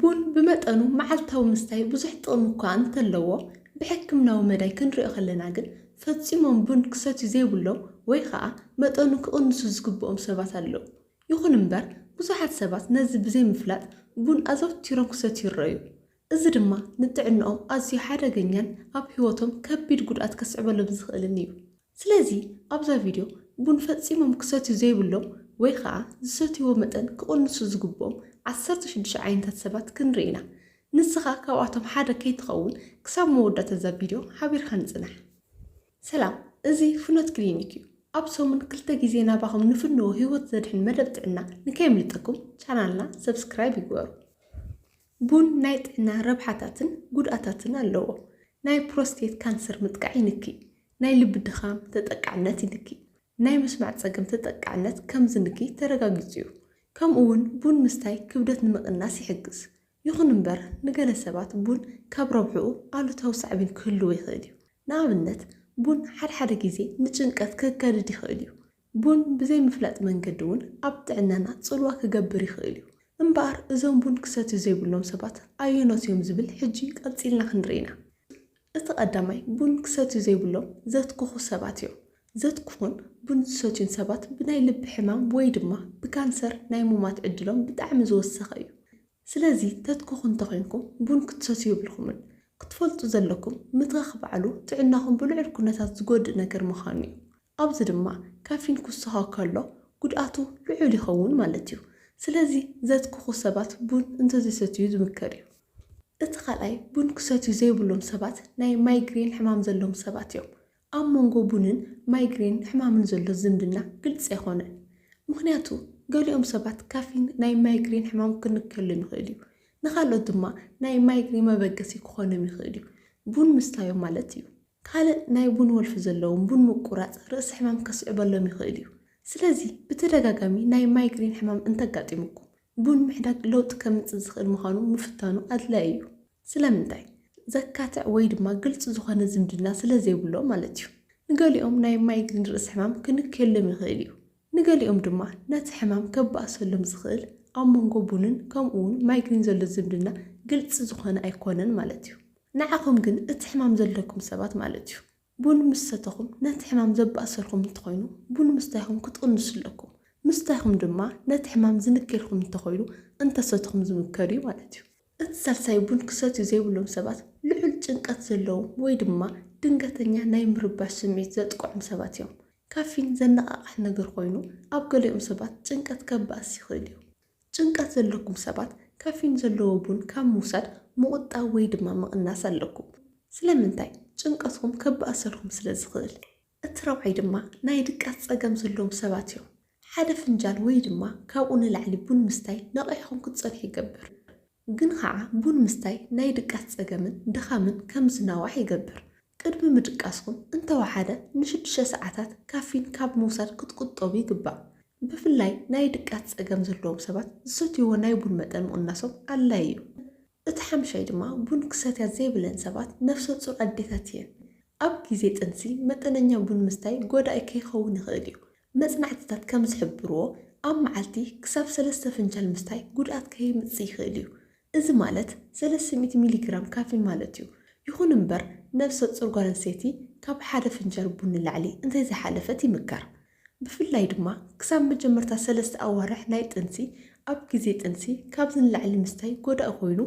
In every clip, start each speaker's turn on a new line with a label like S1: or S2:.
S1: ቡን ብመጠኑ መዓልታዊ ምስታይ ብዙሕ ጥቕሚ እኳ እንተለዎ፣ ብሕክምናዊ መዳይ ክንሪኦ ከለና ግን ፈጺሞም ቡን ክሰትዩ ዘይብሎም ወይ ኸኣ መጠኑ ክቕንሱ ዝግብኦም ሰባት ኣለዉ። ይኹን እምበር ብዙሓት ሰባት ነዚ ብዘይምፍላጥ ቡን ኣዘውቲሮም ክሰትዩ ይረኣዩ። እዚ ድማ ንጥዕንኦም ኣዝዩ ሓደገኛን ኣብ ህይወቶም ከቢድ ጉድኣት ከስዕበሎም ዝኽእልን እዩ። ስለዚ ኣብዛ ቪድዮ ቡን ፈጺሞም ክሰትዩ ዘይብሎም ወይ ኸኣ ዝሰትይዎ መጠን ክቕንሱ ዝግብኦም ዓሰርተ ሽዱሽተ ዓይነታት ሰባት ክንርኢ ኢና። ንስኻ ካብኣቶም ሓደ ከይትኸውን ክሳብ መወዳእታ እዛ ቪድዮ ሓቢርካኒ ጽናሕ። ሰላም እዚ ፍኖት ክሊኒክ እዩ ኣብ ሰሙን ክልተ ግዜ ናባኹም ንፍንዎ ሂወት ዘድሕን መደብ ጥዕና ንከየምልጠኩም ቻናልና ሰብስክራይብ ይግበሩ። ቡን ናይ ጥዕና ረብሓታትን ጉድኣታትን ኣለዎ። ናይ ፕሮስቴት ካንሰር ምጥቃዕ ይንኪ። ናይ ልቢ ድኻም ተጠቃዕነት ይንኪ። ናይ ምስማዕ ጸገም ተጠቃዕነት ከም ዝንኪ ተረጋጊጹ'ዩ። ከምኡ'ውን ቡን ምስታይ ክብደት ንምቕናስ ይሕግዝ። ይኹን እምበር ንገለ ሰባት ቡን ካብ ረብሕኡ ኣሉታዊ ሳዕቤን ክህልዎ ይኽእል'ዩ። ንኣብነት ቡን ሓድሓደ ግዜ ንጭንቀት ከጋድድ ይኽእል'ዩ። ቡን ብዘይ ምፍላጥ መንገዲ እውን ኣብ ጥዕናና ጽልዋ ክገብር ይኽእል እዩ። እምበኣር እዞም ቡን ክሰትዩ ዘይብሎም ሰባት ኣየኖት እዮም ዝብል ሕጂ ቀጺልና ክንርኢ ኢና። እቲ ቀዳማይ ቡን ክሰትዩ ዘይብሎም ዘትክኹ ሰባት እዮም። ዘትክኹን ቡን ዝሰትዩን ሰባት ብናይ ልቢ ሕማም ወይ ድማ ብካንሰር ናይ ሙማት ዕድሎም ብጣዕሚ ዝወሰኸ እዩ። ስለዚ ተትከኹ እንተኾይንኩም ቡን ክትሰትዩ የብልኩምን። ክትፈልጡ ዘለኩም ምትኻኽ ባዕሉ ጥዕናኹም ብልዑል ኩነታት ዝጎድእ ነገር ምኻኑ እዩ። ኣብዚ ድማ ካፊን ክውሰኾ ከሎ ጉድኣቱ ልዑል ይኸውን ማለት እዩ። ስለዚ ዘትክኹ ሰባት ቡን እንተዘይሰትዩ ዝምከር እዩ። እቲ ካልኣይ ቡን ክሰትዩ ዘይብሎም ሰባት ናይ ማይግሬን ሕማም ዘለዎም ሰባት እዮም። ኣብ መንጎ ቡንን ማይግሬን ሕማምን ዘሎ ዝምድና ግልጺ ኣይኮነን። ምኽንያቱ ገሊኦም ሰባት ካፊን ናይ ማይግሬን ሕማም ክንከሎም ይኽእል እዩ፣ ንኻልኦት ድማ ናይ ማይግሬን መበገሲ ክኾኖም ይኽእል እዩ፣ ቡን ምስታዮም ማለት እዩ። ካልእ ናይ ቡን ወልፊ ዘለዎም ቡን ምቁራጽ ርእሲ ሕማም ከስዕበሎም ይኽእል እዩ። ስለዚ ብተደጋጋሚ ናይ ማይግሬን ሕማም እንተጋጢሙኩም ቡን ምሕዳግ ለውጢ ከምጽእ ዝኽእል ምዃኑ ምፍታኑ ኣድላዪ እዩ። ስለምንታይ? ዘካትዕ ወይ ድማ ግልጺ ዝኾነ ዝምድና ስለ ዘይብሎም ማለት እዩ። ንገሊኦም ናይ ማይግሪን ርእሲ ሕማም ክንክየሎም ይኽእል እዩ። ንገሊኦም ድማ ነቲ ሕማም ከባእሰሎም ዝኽእል ኣብ መንጎ ቡንን ከምኡውን ማይግሪን ዘሎ ዝምድና ግልጺ ዝኾነ ኣይኮነን ማለት እዩ። ንዓኹም ግን እቲ ሕማም ዘለኩም ሰባት ማለት እዩ። ቡን ምስ ሰተኹም ነቲ ሕማም ዘባእሰልኩም እንተኾይኑ ቡን ምስታይኹም ክትቕንሱ ኣለኩም። ምስታይኹም ድማ ነቲ ሕማም ዝንክየልኩም እንተኾይኑ እንተሰትኹም ዝምከር እዩ ማለት እዩ። እቲ ሳልሳይ ቡን ክሰትዩ ዘይብሎም ሰባት ልዑል ጭንቀት ዘለዎም ወይ ድማ ድንገተኛ ናይ ምርባሽ ስምዒት ዘጥቅዖም ሰባት እዮም። ካፊን ዘነቓቕሕ ነገር ኮይኑ ኣብ ገሊኦም ሰባት ጭንቀት ከባእስ ይኽእል እዩ። ጭንቀት ዘለኩም ሰባት ካፊን ዘለዎ ቡን ካብ ምውሳድ ምቑጣብ ወይ ድማ ምቕናስ ኣለኩም። ስለምንታይ? ጭንቀትኩም ከባእሰልኩም ስለ ዝኽእል። እቲ ራብዓይ ድማ ናይ ድቃስ ጸገም ዘለዎም ሰባት እዮም። ሓደ ፍንጃል ወይ ድማ ካብኡ ንላዕሊ ቡን ምስታይ ነቒሕኩም ክትጸንሑ ይገብር። ግን ኸኣ ቡን ምስታይ ናይ ድቃስ ጸገምን ድኻምን ከም ዝናዋሕ ይገብር። ቅድሚ ምድቃስኩም እንተወሓደ ንሽዱሽተ ሰዓታት ካፊን ካብ ምውሳድ ክትቁጠቡ ይግባእ። ብፍላይ ናይ ድቃስ ጸገም ዘለዎም ሰባት ዝሰትይዎ ናይ ቡን መጠን ምቕናሶም ኣድላዪ እዩ። እቲ ሓምሻይ ድማ ቡን ክሰትያ ዘይብለን ሰባት ነፍሰጹር ኣዴታት እየን። ኣብ ግዜ ጥንሲ መጠነኛ ቡን ምስታይ ጎዳኢ ከይኸውን ይኽእል እዩ። መጽናዕትታት ከም ዝሕብርዎ፣ ኣብ መዓልቲ ክሳብ ሰለስተ ፍንጃል ምስታይ ጉድኣት ከየምጽእ ይኽእል እዩ። እዚ ማለት ሰለስተ ሚእቲ ሚሊግራም ካፊን ማለት እዩ። ይኹን እምበር ነብሰ-ጾር ጓል ኣንስተይቲ ካብ ሓደ ፍንጃል ቡን ንላዕሊ እንተይዝሓለፈት ይምከር። ብፍላይ ድማ ክሳብ መጀመርታ ሰለስተ ኣዋርሕ ናይ ጥንሲ ኣብ ግዜ ጥንሲ ካብዚ ንላዕሊ ምስታይ ጎዳኢ ኮይኑ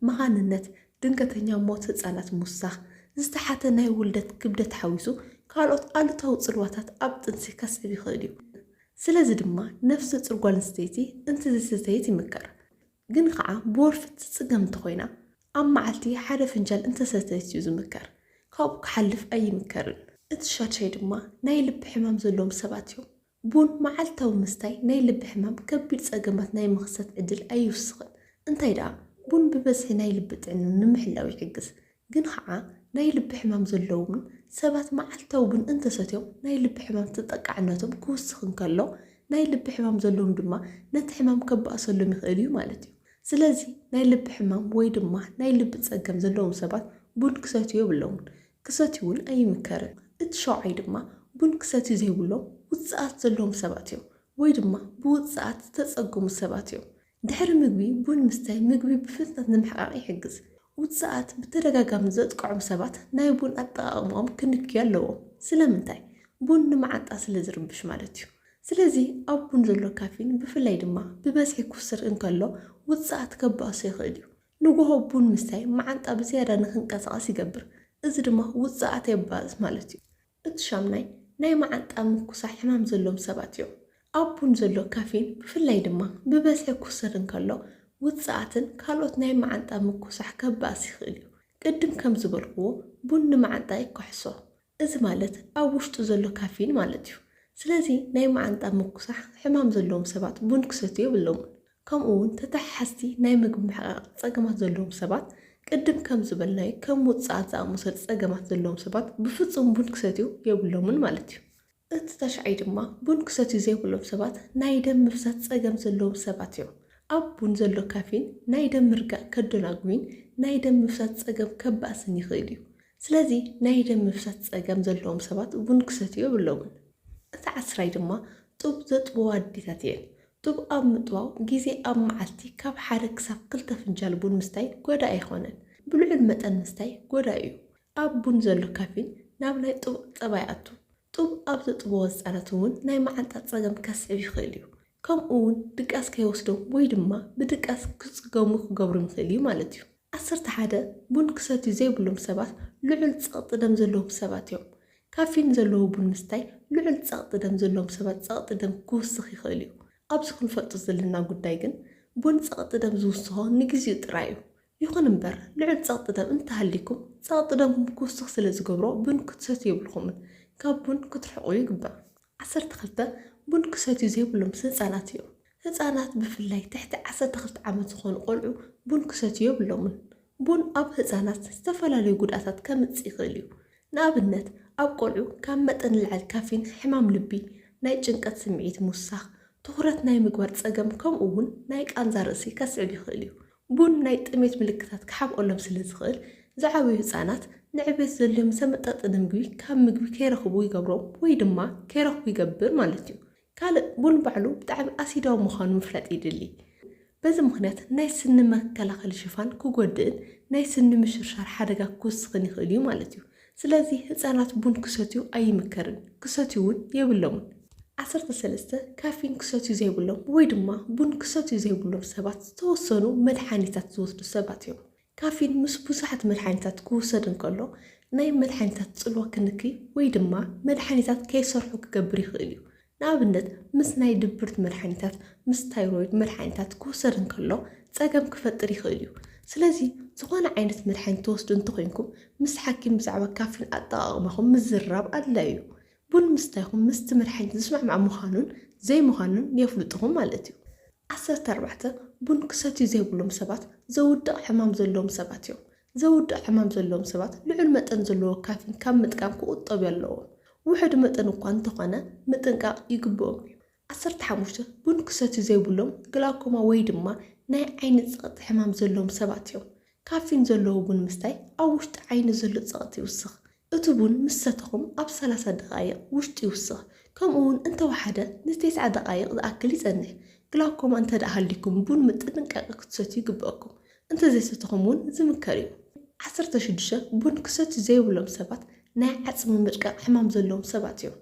S1: መኻንነት ድንገተኛ ሞት ህጻናት ምውሳኽ፣ ዝተሓተ ናይ ውልደት ክብደት ሓዊሱ ካልኦት ኣሉታዊ ጽልዋታት ኣብ ጥንሲ ከስዕብ ይኽእል እዩ። ስለዚ ድማ ነፍሰጹር ጓል ኣንስተይቲ እንተዘይሰተየት ይምከር። ግን ኸኣ ብወልፊ እትጽገም እንተኾይና ኣብ መዓልቲ ሓደ ፍንጃል እንተሰተየት እዩ ዝምከር። ካብኡ ክሓልፍ ኣይምከርን። እቲ ሻድሻይ ድማ ናይ ልቢ ሕማም ዘለዎም ሰባት እዮም። ቡን መዓልታዊ ምስታይ ናይ ልቢ ሕማም ከቢድ ጸገማት ናይ ምኽሰት ዕድል ኣይውስኽን። እንታይ ደኣ ቡን ብበዝሒ ናይ ልቢ ጥዕና ንምሕላው ይሕግዝ። ግን ኸኣ ናይ ልቢ ሕማም ዘለዎም ሰባት መዓልታዊ ቡን እንተሰትዮም ናይ ልቢ ሕማም ተጠቃዕነቶም ክውስኽ እንከሎ ናይ ልቢ ሕማም ዘለዎም ድማ ነቲ ሕማም ከባእሰሎም ይኽእል እዩ ማለት እዩ። ስለዚ ናይ ልቢ ሕማም ወይ ድማ ናይ ልቢ ጸገም ዘለዎም ሰባት ቡን ክሰትዩ የብሎምን። ክሰትዩ'ውን ኣይምከርን። እቲ ሻውዓይ ድማ ቡን ክሰትዩ ዘይብሎም ውጽኣት ዘለዎም ሰባት እዮም፣ ወይ ድማ ብውጽኣት ዝተጸገሙ ሰባት እዮም። ድሕሪ ምግቢ ቡን ምስታይ ምግቢ ብፍጥነት ንምሕቃቕ ይሕግዝ። ውጽኣት ብተደጋጋሚ ዘጥቅዖም ሰባት ናይ ቡን ኣጠቓቕማኦም ክንክዩ ኣለዎም። ስለምንታይ? ቡን ንመዓንጣ ስለ ዝርብሽ ማለት እዩ። ስለዚ ኣብ ቡን ዘሎ ካፊን ብፍላይ ድማ ብበዝሒ ክውሰድ እንከሎ ውጽኣት ከባእሶ ይኽእል እዩ። ንጎሆ ቡን ምስታይ መዓንጣ ብዝያዳ ንኽንቀሳቐስ ይገብር፣ እዚ ድማ ውጽኣት የባእስ ማለት እዩ። እቲ ሻምናይ ናይ መዓንጣ ምኩሳሕ ሕማም ዘሎዎም ሰባት እዮም። ኣብ ቡን ዘሎ ካፊን ብፍላይ ድማ ብበዝሒ ክውሰድ እንከሎ ውጽኣትን ካልኦት ናይ መዓንጣ ምኩሳሕ ከባእስ ይኽእል እዩ። ቅድም ከም ዝበልኩዎ ቡን ንመዓንጣ ይከሕሶ። እዚ ማለት ኣብ ውሽጡ ዘሎ ካፊን ማለት እዩ። ስለዚ ናይ መዓንጣ ምጉሳሕ ሕማም ዘለዎም ሰባት ቡን ክሰትዩ የብሎምን። ከምኡ እውን ተተሓሓዝቲ ናይ ምግቢ ምሕቓቕ ፀገማት ዘለዎም ሰባት፣ ቅድም ከም ዝበልናዮ ከም ውፅዓት ዝኣመሰሉ ፀገማት ዘለዎም ሰባት ብፍፁም ቡን ክሰትዩ የብሎምን ማለት እዩ። እቲ ተሻዒ ድማ ቡን ክሰትዩ ዘይብሎም ሰባት ናይ ደም ምፍሳስ ጸገም ዘለዎም ሰባት እዮም። ኣብ ቡን ዘሎ ካፊን ናይ ደም ምርጋእ ከደናጉይን ናይ ደም ምፍሳስ ጸገም ከባእስን ይኽእል እዩ። ስለዚ ናይ ደም ምፍሳስ ጸገም ዘለዎም ሰባት ቡን ክሰትዩ የብሎምን። እቲ ዓስራይ ድማ ጡብ ዘጥብዋ ኣዴታት እየን። ጡብ ኣብ ምጥባው ግዜ ኣብ መዓልቲ ካብ ሓደ ክሳብ ክልተ ፍንጃል ቡን ምስታይ ጎዳኢ ኣይኾነን። ብልዑል መጠን ምስታይ ጎዳኢ እዩ። ኣብ ቡን ዘሎ ካፊን ናብ ናይ ጡብ ጸባ ይኣቱ። ጡብ ኣብ ዘጥብዎ ህጻናት እውን ናይ መዓንጣ ጸገም ከስዕብ ይኽእል እዩ። ከምኡ እውን ድቃስ ከይወስዶም ወይ ድማ ብድቃስ ክጽገሙ ክገብሮም ይኽእል እዩ ማለት እዩ። ዓሰርተ ሓደ ቡን ክሰትዩ ዘይብሎም ሰባት ልዑል ጸቕጢ ደም ዘለዎም ሰባት እዮም። ካፊን ዘለዎ ቡን ምስታይ ልዑል ጸቕጢ ደም ዘለዎም ሰባት ጸቕጢ ደም ክውስኽ ይኽእል እዩ። ኣብዚ ክንፈልጦ ዘለና ጉዳይ ግን ቡን ጸቕጢ ደም ዝውስኾ ንግዚኡ ጥራይ እዩ። ይኹን እምበር ልዑል ጸቕጢ ደም እንተሃልይኩም፣ ጸቕጢ ደምኩም ክውስኽ ስለ ዝገብሮ ቡን ክትሰትዩ የብልኩምን። ካብ ቡን ክትርሕቑ ይግባእ። ዓሰርተ ክልተ፣ ቡን ክሰትዩ ዘይብሎም ምስ ህጻናት እዮም። ህጻናት ብፍላይ ትሕቲ ዓሰርተ ክልተ ዓመት ዝኾኑ ቆልዑ ቡን ክሰትዩ የብሎምን። ቡን ኣብ ህጻናት ዝተፈላለዩ ጉድኣታት ከምጽእ ይኽእል እዩ። ንኣብነት ኣብ ቆልዑ ካብ መጠን ንላዕሊ ካፊን ሕማም ልቢ፣ ናይ ጭንቀት ስምዒት ምውሳኽ፣ ትኹረት ናይ ምግባር ጸገም ከምኡ'ውን ናይ ቃንዛ ርእሲ ከስዕብ ይኽእል እዩ። ቡን ናይ ጥሜት ምልክታት ክሓብኦሎም ስለ ዝኽእል፣ ዝዓበዩ ህጻናት ንዕብየት ዘድልዮም ዝተመጣጠነ ምግቢ ካብ ምግቢ ከይረኽቡ ይገብሮም ወይ ድማ ከይረኽቡ ይገብር ማለት እዩ። ካልእ ቡን ባዕሉ ብጣዕሚ ኣሲዳዊ ምዃኑ ምፍላጥ የድሊ። በዚ ምኽንያት ናይ ስኒ መከላኸሊ ሽፋን ክጎድእን ናይ ስኒ ምሽርሻር ሓደጋ ክውስኽን ይኽእል እዩ ማለት እዩ። ስለዚ ህጻናት ቡን ክሰትዩ ኣይምከርን፣ ክሰትዩ እውን የብሎምን። ዓሰርተ ሰለስተ፣ ካፊን ክሰትዩ ዘይብሎም ወይ ድማ ቡን ክሰትዩ ዘይብሎም ሰባት ዝተወሰኑ መድሓኒታት ዝወስዱ ሰባት እዮም። ካፊን ምስ ብዙሓት መድሓኒታት ክውሰድ እንከሎ ናይ መድሓኒታት ጽልዋ ክንክይ ወይ ድማ መድሓኒታት ከይሰርሑ ክገብር ይኽእል እዩ። ንኣብነት ምስ ናይ ድብርት መድሓኒታት፣ ምስ ታይሮይድ መድሓኒታት ክውሰድ እንከሎ ጸገም ክፈጥር ይኽእል እዩ። ስለዚ ዝኾነ ዓይነት መድሓኒት ትወስዱ እንተኾይንኩም ምስ ሓኪም ብዛዕባ ካፊን ኣጠቓቕማኹም ምዝርራብ ኣድላዩ እዩ። ቡን ምስታይኹም ምስቲ መድሓኒት ዝስማዕማዕ ምዃኑን ዘይምዃኑን የፍልጡኹም ማለት እዩ። ዓሰርተ ኣርባዕተ፣ ቡን ክሰትዩ ዘይብሎም ሰባት ዘውድቕ ሕማም ዘለዎም ሰባት እዮም። ዘውድእ ሕማም ዘለዎም ሰባት ልዑል መጠን ዘለዎ ካፊን ካብ ምጥቃም ክቑጠቡ ኣለዎም። ውሑድ መጠን እኳ እንተኾነ ምጥንቃቕ ይግብኦም እዩ። ዓሰርተ ሓሙሽተ ቡን ክሰትዩ ዘይብሎም ግላውኮማ ወይ ድማ ናይ ዓይኒ ጸቕጢ ሕማም ዘለዎም ሰባት እዮም። ካፊን ዘለዎ ቡን ምስታይ ኣብ ውሽጢ ዓይኒ ዘሎ ጸቕጢ ይውስኽ፣ እቲ ቡን ምስ ሰተኹም ኣብ ሰላሳ ደቓይቕ ውሽጢ ይውስኽ ከምኡ ውን እንተወሓደ ን ቴስዓ ደቓይቕ ዝኣክል ይጸንሕ። ግላውኮማ እንተድኣ ሃልዩኩም ቡን ምጥንቃቐ ክትሰትዩ ይግበኣኩም። እንተዘይሰተኹም ውን ዝምከር ዩ። ዓሰርተ ሽዱሽተ ቡን ክሰትዩ ዘይብሎም ሰባት ናይ ዓጽሚ ምድቃቕ ሕማም ዘለዎም ሰባት ዮም።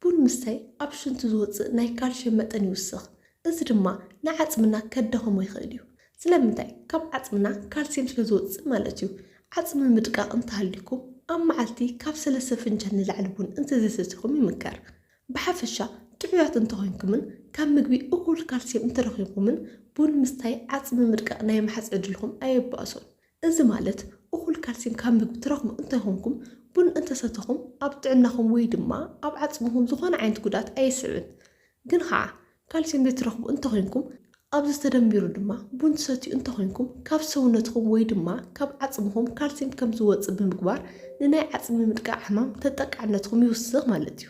S1: ቡን ምስታይ ኣብ ሽንቲ ዝወጽእ ናይ ካልሽየም መጠን ይውስኽ፣ እዚ ድማ ንዓጽምና ከዳኽሞ ይኽእል እዩ። ስለምንታይ? ካብ ዓጽምና ካልስየም ስለ ዝወጽእ ማለት እዩ። ዓጽሚ ምድቃቕ እንተሃልዩኩም፣ ኣብ መዓልቲ ካብ ሰለስተ ፍንጃል ንላዕሊ ቡን እንተዘይሰቲኹም ይምከር። ብሓፈሻ ጥዑያት እንተኾይንኩምን ካብ ምግቢ እኹል ካልስየም እንተረኺብኩምን፣ ቡን ምስታይ ዓጽሚ ምድቃቕ ናይ ምሓዝ ዕድልኩም ኣየባእሶን። እዚ ማለት እኹል ካልሲም ካብ ምግቢ ትረኽቡ እንተኾንኩም፣ ቡን እንተሰተኹም ኣብ ጥዕናኹም ወይ ድማ ኣብ ዓጽምኹም ዝኾነ ዓይነት ጉድኣት ኣየስዕብን። ግን ኸኣ ካልሲም ዘይትረኽቡ እንተኾንኩም፣ ኣብዚ ተደሚሩ ድማ ቡን ትሰትዩ እንተኾንኩም ካብ ሰውነትኹም ወይ ድማ ካብ ዓጽምኹም ካልሲም ከም ዝወጽእ ብምግባር ንናይ ዓጽሚ ምጥቃዕ ሕማም ተጠቃዕነትኹም ይውስኽ ማለት እዩ።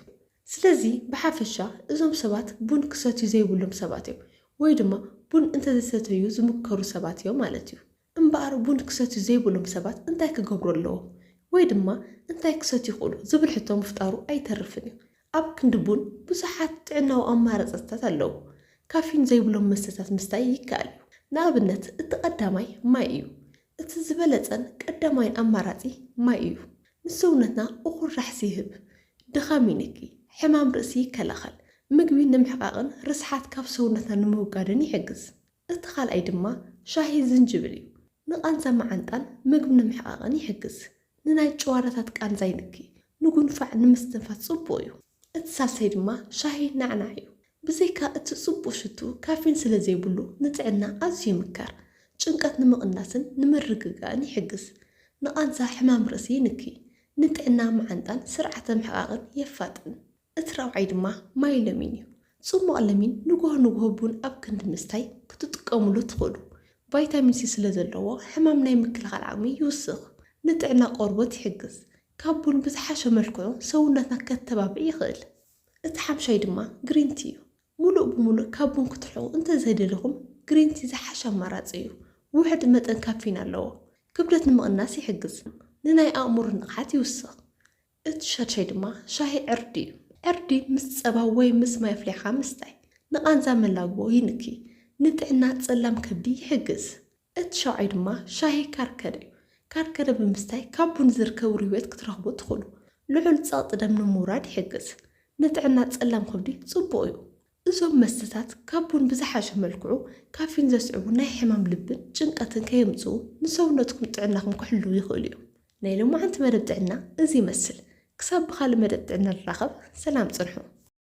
S1: ስለዚ ብሓፈሻ እዞም ሰባት ቡን ክሰትዩ ዘይብሎም ሰባት እዮም ወይ ድማ ቡን እንተዘይሰተዩ ዝምከሩ ሰባት እዮም ማለት እዩ። እምበኣር ቡን ክሰትዩ ዘይብሎም ሰባት እንታይ ክገብሩ ኣለዎም? ወይ ድማ እንታይ ክሰትዩ ይኽእሉ? ዝብል ሕቶ ምፍጣሩ ኣይተርፍን እዩ። ኣብ ክንዲ ቡን ብዙሓት ጥዕናዊ ኣማራጽታት ኣለዉ። ካፊን ዘይብሎም መስተታት ምስታይ ይከኣል እዩ። ንኣብነት እቲ ቀዳማይ ማይ እዩ። እቲ ዝበለጸን ቀዳማይን ኣማራጺ ማይ እዩ። ንሰውነትና እኹል ራሕሲ ይህብ። ድኻም ይንኪ። ሕማም ርእሲ ይከላኸል። ምግቢ ንምሕቃቕን ርስሓት ካብ ሰውነትና ንምውጋድን ይሕግዝ። እቲ ካልኣይ ድማ ሻሂ ዝንጅብል እዩ። ንቓንዛ መዓንጣን ምግቢ ንምሕቓቕን ይሕግዝ። ንናይ ጭዋዳታት ቃንዛ ይንኪ። ንጉንፋዕ ንምስትንፋስ ጽቡቕ እዩ። እቲ ሳልሳይ ድማ ሻሂ ናዕናዕ እዩ። ብዘይካ እቲ ጽቡቕ ሽትኡ ካፊን ስለ ዘይብሉ ንጥዕና ኣዝዩ ይምከር። ጭንቀት ንምቕናስን ንምርግጋእን ይሕግዝ። ንቓንዛ ሕማም ርእሲ ይንኪ። ንጥዕና መዓንጣን ስርዓተ ምሕቓቕን የፋጥን። እቲ ራብዓይ ድማ ማይ ለሚን እዩ። ጽሟቕ ለሚን ንጉሆ ንጉሆ ቡን ኣብ ክንዲ ምስታይ ክትጥቀሙሉ ትኽእሉ። ቫይታሚን ሲ ስለ ዘለዎ ሕማም ናይ ምክልኻል ዓቕሚ ይውስኽ። ንጥዕና ቆርቦት ይሕግዝ። ካብ ቡን ብዝሓሸ መልክዑ ሰውነትና ከተባብዕ ይኽእል። እቲ ሓምሻይ ድማ ግሪን ቲ እዩ። ሙሉእ ብሙሉእ ካብ ቡን ክትርሕቑ እንተዘይደሊኹም ግሪን ቲ ዝሓሸ ኣማራጺ እዩ። ውሑድ መጠን ካፊን ኣለዎ። ክብደት ንምቕናስ ይሕግዝ። ንናይ ኣእምሮ ንቕሓት ይውስኽ። እቲ ሻድሻይ ድማ ሻሂ ዕርዲ እዩ። ዕርዲ ምስ ጸባ ወይ ምስ ማይ ኣፍሊሕኻ ምስታይ ንቓንዛ መላግቦ ይንኪ፣ ንጥዕና ጸላም ከብዲ ይሕግዝ። እቲ ሻውዓይ ድማ ሻሂ ካርከደ እዩ። ካርከደ ብምስታይ ካብ ቡን ዝርከብ ርዌት ክትረኽቡ ትኽእሉ። ልዑል ጸቕጢ ደም ንምውራድ ይሕግዝ። ንጥዕና ጸላም ከብዲ ጽቡቕ እዩ። እዞም መስተታት ካብ ቡን ብዝሓሸ መልክዑ ካፊን ዘስዕቡ ናይ ሕማም ልብን ጭንቀትን ከየምጽኡ ንሰውነትኩም ጥዕናኹም ክሕልዉ ይኽእሉ እዮም። ናይ ሎማዓንቲ መደብ ጥዕና እዚ ይመስል ክሳብ ብኻልእ መደብ ጥዕና ንራኸብ ሰላም ጽንሑ።